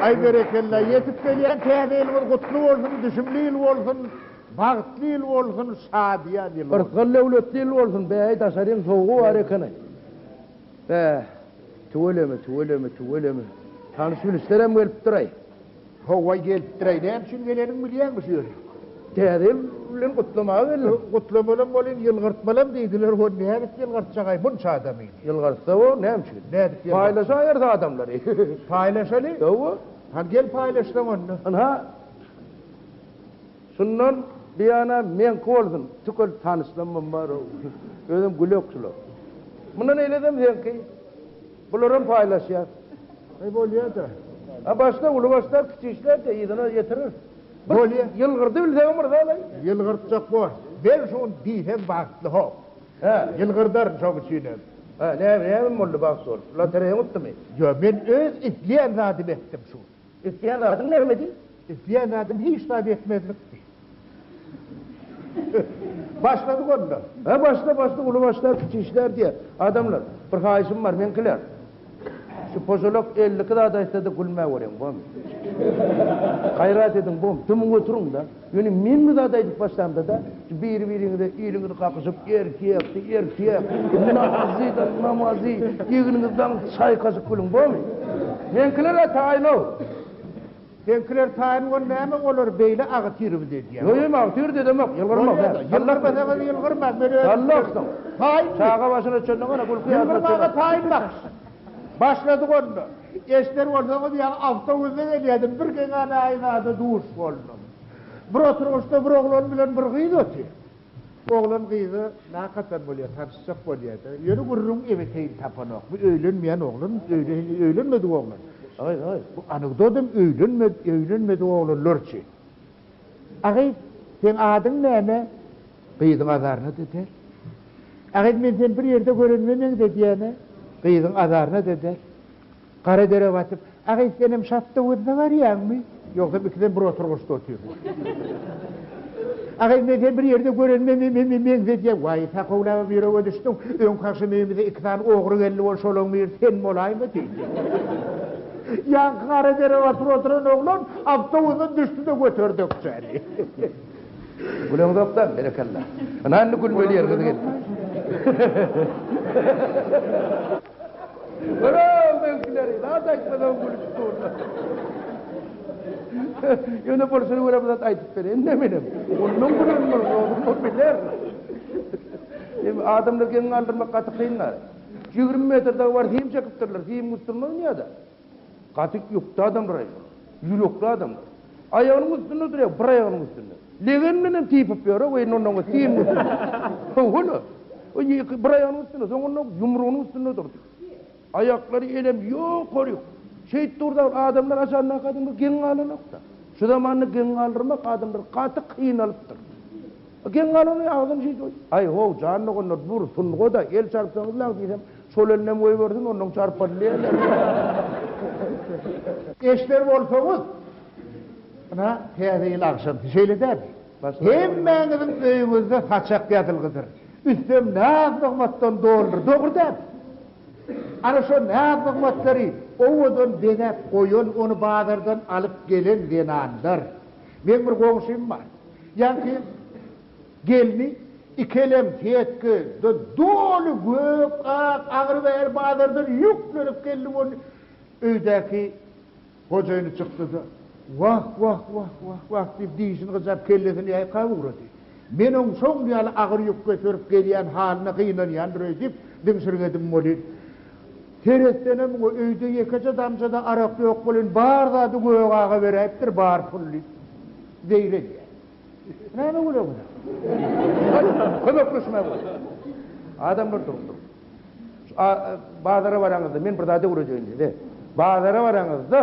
Ay berekella yetip gelýän täze ýylyňyz gutly bolsun, düşümli ýyl bolsun, bagtly ýyl bolsun, şadyýan ýyl bolsun. Yrsgal döwletli ýyl bolsun, bäý daşaryň sowugy bar ekeni. Bäh, tüweleme, tüweleme, tüweleme. Tanyş bilişlerem gelipdiraý. Howwa gelipdir-aý, näme üçin gelenini bilýäňmi şu ýere? Täze ýyl bilen gutlamaga geldim. Gutlamalam welin, ýylgyrtmalam diýdiler, hon nädip ýylgyrtjak-aý munça adamy? Ýylgyrtsa bor, näme üçin? Nädip ýylgyrtjak? Paýlaşaýarys adamlary. Paýlaşaly? Howwa. Hany gel paýlaşsaň onda. Ynha, şundan buýana meňki bolsun, tükel tanyşlamam bar-ow. Özem gülekçil-ow. Mundan eýlesem seňki. Bularam paýlaşýas. Eý bolýada. A başda uly başlar kiçi işlerde yzyna ýetirir. Bir ýylgyrdy bilseň myrzalaý. Ýylgyrtjak bor. Men şuny diýsem bagtly hok. Hä. Ýylgyrdaryn şoň üçinem. Hä näme näme boldy bagt bolup. Lotereýa utdymy? Ýok men öz isleýän zadymy etdim şu gün. Etýän zadyň nämedi? Etýän zadym hiç zat etmezlikdi. Başladyk onda. Hä, başla, başla, uly başlar, kiçi işler diýer adamlar. Bir haýyşym bar, meňkiler. Şu poželok elli iki zat aýtsa-da gülmäweriň, bomy? Gaýrat ediň, bomy? Dymyň oturyň-da. Ýöne men bu zady aýdyp başlamda-da, şu biri-biriňize eliňizi kakyşyp, erkekdi, erkek, namazydy, namazy, egniňizi daň çaýkaşyp gülüň, bormy? Meňkiler-ä taýyn-ow. Seňkiler taýyn bol, näme olar beýle agytyryp-da edýär? Ýo, ýo, agytyryp-da edemok, ýylgyrmak däl. Bolýa-da, ýylgyrmasaňyz ýylgyrmaň, men özüm. Sallaksyň. Taýynmy? Çaga başyna çenli gana gülki ýadyna düşenok. Ýylgyrmaga taýynmyş. Başladyk onda. Eşder bolsaňyz ýaňy awtobusda gelýärdim, bir geňäne aýnada duş boldum. Bir oturgyçda bir oglan bilen bir gyz otyr. Oglan gyzy nakadan bolýar, tanyşjak bolýar-da. Ýöne gürrüň ebeteýin tapanok. Bu öýlenmeýän oglan, öýli hili öýlenmedik oglan. Aý, aý, bu anekdot hem öýlenmedi, öýlenmedik oglanlar üçin. Agy, seň adyň näme? Gyzyň azaryna deper. Agam men seni bir ýerde görenime meňze diýýän-ä. Gyzyň azaryna-da däl. Gara dere batyp, Agam senem Şatdowuzda barýaňmy? Ýogsam ikisem bir oturgyçda otyrys. Agam men seni bir ýerde görenime meňze diýýän. Waý, Sakowlabam ýürege düşdüň. Öňki agşam öýümize iki sany ogry geldi bol, şolaň biri sen bolaýma diýdi. Ýaňky gara dere batyp oturan oglan awtobusdan düşdi-de göterdekçäli. Güleňzokda berekella. Ana indi gülmeli ýeriňiz geldi. Ora meňkileri zat aýtmadan gülüp durlar. Ýöne bolşuny görem zat aýdyp bereýin de menem. Ondan gülen bol, ondan biler. Em adamlar geň galdyrmak gaty kyn zat. 20 metr dagy bar, sim çekipdirler, sim gutdurmaz ýa-da. Gaty ýokdy adam bir aýak. Ýürekli adam. Aýagynyň üstünde durýar, bir aýagynyň üstünde. Legen bilen hem typyp ýör-ä, weý nonnoňa syn bolsun. Hawa-la. Ýeke bir aýagynyň üstünde, soňunda ýumrugynyň üstünde durdy. Aýaklary elem ýokaryk. Şeýt durdagyny adamlar aşandaky adamlar geň galanok-da. Şu zamanda geň galdyrmak adamlar gaty kynalypdyr. Geň galany agzym şiş oý. Aý how jan doganlar dur sungoda el çarpsaňyz law diýsem şol elinem goýbersin onnoň çarpady diýerler. Eşder bolsaňyz ynha täze ýyl agşamsy şeýle dämi hemmäňiziň öýüňizde saçak ýazylgydyr üstem naz nygmatdan doludyr dogry dämi ana şo naz nygmatlary owadan bezäp goýan ony bazardan alyp gelen zenanlar Meň bir goňşym bar. Ýaňky gelni ikelem setkede doly gök, ak, agyr bäri bazardan ýüklenip geldi bol öýdäki gojaýyny çykdy-da, Wah, wah, wah, wah, wah diýip dişini gyjap kellesini ýaýkap ugrady. Men oň şol ýaly agyr ýük göterip gelýän halyna gynanýandyr öýdüp, diňşirgedim welin, seretsenem muňa öýde ýekeje damja-da arak ýok welin, bar zady Gök aga beräýipdir, bar pul diýip, zeýr edýär. Näme güleňiz? Gaýtadan kömekleşmäge bolar. Adamlar durupdyr. Şu bazara baraňyzda, men bir zat öwredeýin diýdi. Bazara baraňyzda.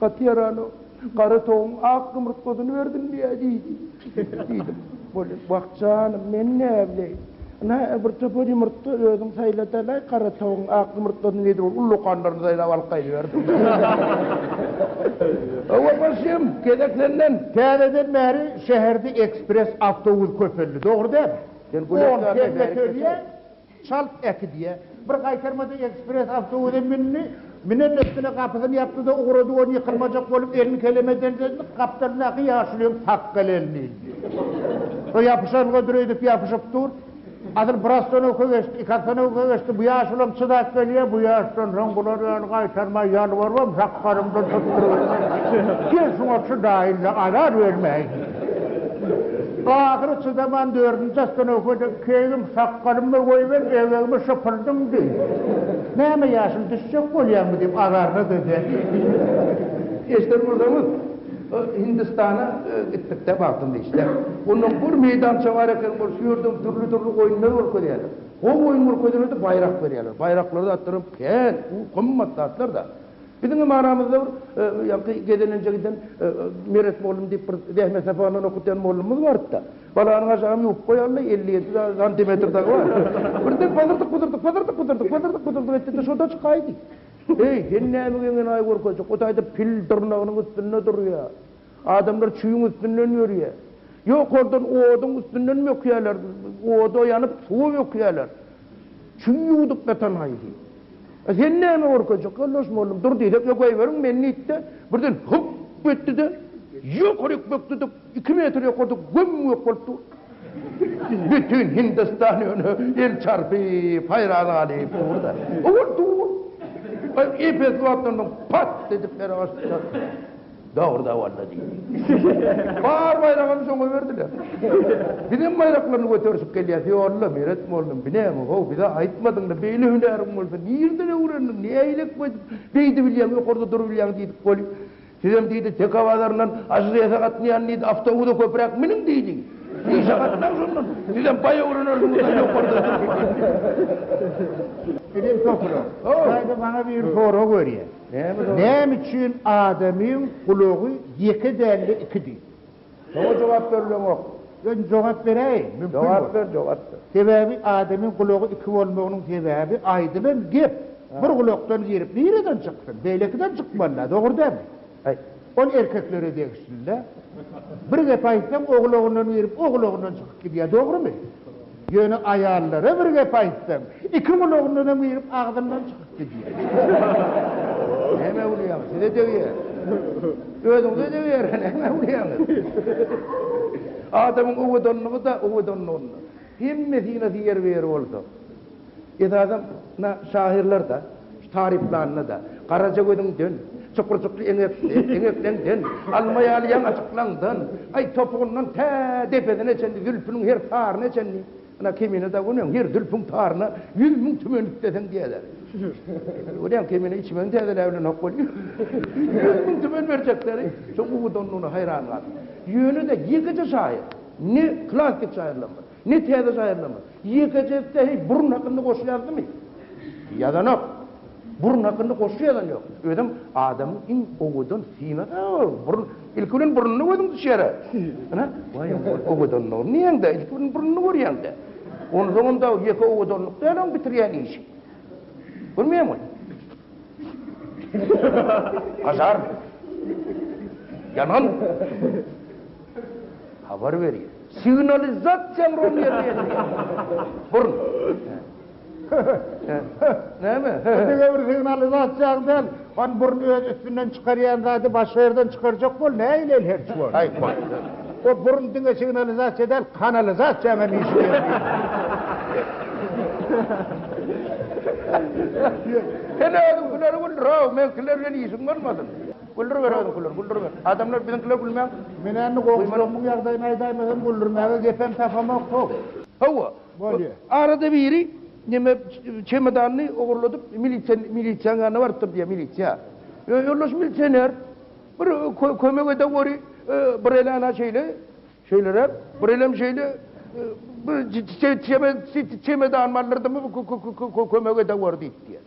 Gaty ýaranok. Gara towugyň ak ýumurtgasyny berdim-le, diýdi. Diýdim. Bolýa, wah, janym, men näbileýin. Ynha-a, bir topar ýumurtga, özüň saýlada-laý, gara towugyň ak ýumurtgasyny diýdibol, ullakanlaryny saýlap alyp gaýdyberdim. Hawa, başym, gezek senden. Täzeden bäri şäherde ekspres awtobus köpeldi, dogry dälmi? Sen gülekdäki bärik geçer. Çalt äkit, diýýä. Bir gaýtarmada ekspress awtobusa mündi. Münen üstüne gapysyny ýapdy-da, ugrady, ony ýykylmajak bolup, elini keleme deldedi, gapdalyndaky ýaşulyň sakgaly elini ildi. Şo ýapyşanlyga düreýdip ýapyşyp dur. Asyl bir ostanowka geçdi, iki ostanowka geçdi, bu ýaşulam çydap gelýä, bu ýaşdan soň bular ýaly gaýtarmaý ýalbarybam, sakgalymdan tutdurybermän, sen şuňa çydaýyn-da, azar bermäýin. Ahyry çydaman dördünji ostanowkada keýgim sakgalymy goýber, eýegimi şypyrdym diý. Näme ýaşym düşjek bolýarmy diýip azarda-da ber. Eşden bolsaňyz, Hindistana gitdikde bagtymly işler. Onda bir meýdança bar eken, ol şu ýerde dürli-dürli oýunlar görkezýärler. Gowy oýun görkezene-de baýrak berýärler. Baýraklary-da atlaram kän, u gymmat zatlar-da. Biziň hem aramyzda bir ýagty gezelenje giden Meret mollum diýip bir zähmet saparyndan okatýan mollumyz bardy-da. Balanyň aşagam ýuwup goýaly, elli ýedi santimetr dagy bar. Birden pazyrdyk-puzyrdyk, pazyrdyk-puzyrdyk, pazyrdyk-puzyrdyk etdi-de şurda çykaýdy. Eý, sen näme geňenaý görkezjek, o taýda pil dyrnagynyň üstünde durýa. Adamlar çüýüň üstünden ýörýä. Ýokardan oduň üstünden bökýäler, oda ýanyp, suwa bökýäler. Kim ýuwdup ýatan haýsy? A sen näme görkezjek, ýoldaş mugallym? Dur diýsek, ýok, goýberiň meni diýdi-de, birden hyp etdi-de, ýokaryk bökdüdük, iki metr ýokarda göm-gök bolup dur. Bütin Hindistan ýöne el çarpyp, haýran galyp dur-da. Ol dur. Ep-esli wagtdan soň pat edip ýere gaçdy-da. Dogry-da boldy diýdi. Bar baýragam şoňa berdiler. Bizem baýraklaryny göterişip gelýäs. Ýolla, Meret mollum, bi näme, how, bize aýtmadyň-da, beýle hünäriň bolsa, nirden öwrendiň, nähilek beýdip, beýdi bilýäň, ýokarda durubilýäň diýdik weli. Sizem diýdi, Teke bazaryndan Ažrese gatnaýan diýdi, awtobusa köpräk miniň diýdi. Işe gatnaň şondan. Sizem baý öwrenersiňiz-ä ýokarda durup. Ejem Sopyrow, gaýda maňa bir sorag berýär. Näme üçin adamyň gulagy ýeke dälde ikidi? Şoňa jogap berleňok. Özüm jogap beräýin, mümkin bolsa. Jogap ber, jogap ber. Sebäbi adamyň gulagy iki bolmagynyň sebäbi aýdylan gep bir gulakdan girip nireden çyksyn, beýlekiden çykmaly-da, dogry dälmi? Aýt. Ol erkeklere degişli-le. Bir gep aýtsaň o gulagyndan girip o gulagyndan çykyp gidýär, dogrumy? Ýöne aýallara bir gep aýtsaň, iki gulagyndanam girip, agzyndan çykyp gidýär. Hä, Mäwliýaň, size degýär. Özüňize degiberýär, hä, Mäwliýaň. Adamyň owadanlygy-da owadanlygynda. Hemmesine ýer ber bolsa, Esasan, na, şahyrlar-da, şu taryplanda-da, garaja gözüňden, çukurjykly eňekde, eňekleňden, alma ýaly ýaň açyklaňdan, aý, topugyndan tä depesine çenli, zülpüniň her taryna çenli, ana, Kemine Dagunyň her zülpüň taryna ýüz müň tümen üfleseň diýerler. Görýäň, Kemine içmegini täzeläp bilenok welin, ýüz müň tümen berjekleri, şoň uwudanlygyna haýran galýan. Ýöne-de ýekeje şahyr, ne klassyk şahyrlarymyz, Ne täze jaýyrlama? Ýekeje etse heý burun hakynda goşgy ýazdymy? Ýazanok. Burun hakynda goşgy ýazan ýok. Özem adamyň iň owadan synasy o burun. Ilki bilen burnuny gözüň düşýär-ä. Ana, waý owadan owadanlygyny diýeňdä, ilki bilen burnuny görýäňdä. Onsoňam dagy ýeke owadanlyk däl oň bitirýän işi. Görmeýäňmi? Pažarnyý. Ýangyn. Habar berýär. Signalizasiýa rom ýerine ýetirýär. Burun. Näme? Diňe bir signalizasiýaň däl, hany burun öz üstünden çykarýan zady başga ýerden çykarjak bol, nähili el herç bol. Aý, bol. O burun diňe signalizasiýa däl, kanalizasiýaň hem iş Sen özüň hünärmen, raw, meňkiler bilen işiň bolmasyn. Güldüriber özüňkileri, güldüriber. Adamlar biziňkilere gülmäň. Menä indi goňşularymyň ýagdaýyny aýdaýma hem güldürmäge gepem tapamok how. Hawa. Bolýa. Arada biri neme çemodanyny ogurladyp milisiýa milisiýanyň ýanyna barypdyr diýýä milisiýa. Ýoldaş milisioner bir kömek ede gory bir elana şeýle Şeýleräk, bir elem şeýle bir çemedan mallardyňmy, bu kömege dowar diýip diýer.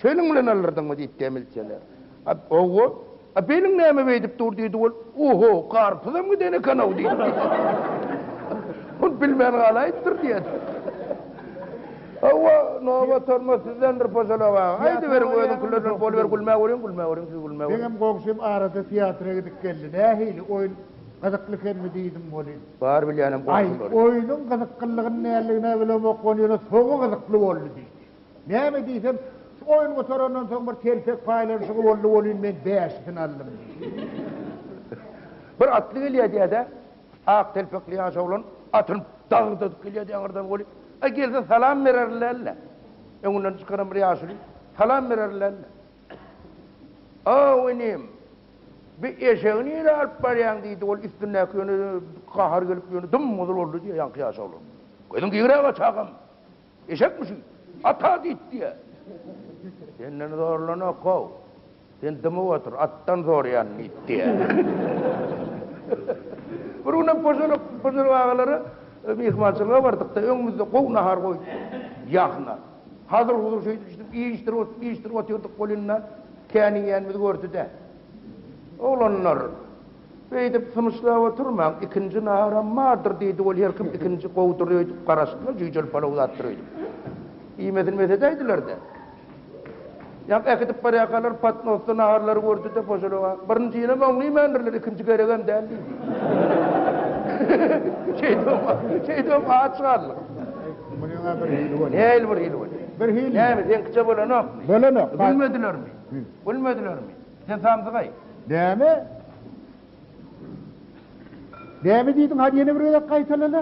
Şonuň bilen alardyňmy diýip diýer milsioner. Hawa, a beliň näme beýdip dur diýdi ol. Oho, garpyzam giden eken-ow diýdi. Ol bilmän galaýypdyr diýer. Hawa, nobat hormat sizdendir posolog aga. Aýdyberiň özüňkiler bilen boluber gülmä görüň, gülmä görüň, siz gülmä görüň. Meňem goňşym arada teatra gidip geldi. Nähili oýun? Gyzykly ekenmi diýdim welin. Bar bilýänem bolsun welin. Aý, oýnuň gyzyklylygyny näledigine bilemok welin, ýöne soňy gyzykly boldy diýdi. Näme diýsem, şu oýun gutarandan soň bir telpek paýlanyşygy boldy welin, men bäşisini aldym diýdi. Bir atly gelýär diýýär-dä. Ak telpekli ýaş oglan atyny dagyrdadyp gelýär diýýär ýaňyrdan welin. Aý, gelse salam bererler-le. Öňünden çykaran bir ýaşuly salam bererler-le. Aw, inim, Bi eşegi nirä alyp barýaň? diýdi. Ol üstündäki ýöne gahar gelip, ýöne dym-gyzyl boldy, diýýär ýaňky ýaş oglan. Gözüň gigiräge, çagam! Eşekmi şu? Ata diýip diýýär. Senden zorlanok-ow. Sen dymyp otur, atdan zorýan, diýip diýýär. Bir günem poşalyk poşalyk agalara myhmançylyga bardykda, öňümizde gowy nahar goýupdyr. Ýahna. Hazir huzur şeýdip şeýdip iýişdirip otyr iýişdirip otyrdyk bolynda kän iýenimizi gördüde. Oglanlar beýdip symyşlap oturmaň ikinji naharam bardyr diýdi ol herkim ikinji gowudyr öýdüp garaşdylar jüýjeli palaw zatdyr öýdüp iýmesin mesedäýdiler-de. Ýa äkidip barýarkalar patnosda naharlary gördi-de, pojalyga, Birinjinem oňlymändirler, ikinji geregem däl diýdi. Şeýdibem aç galdyk. Munyň-a bir hili bolýar. Nähili bir hili bolýar? Bir hili. Näme, seňkiçe bolanokmy? Bolanok. Gülmedilermi? Gülmedilermi? Sen samsygaý. Näme? Näme diýdiň? Hany ýene bir gezek gaýtalala.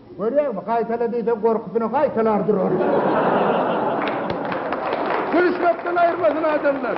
Görýäňmi, gaýtala diýseň gorkusyna gaýtalar durar. Gülüşmekden aýyrmasyn adamlar.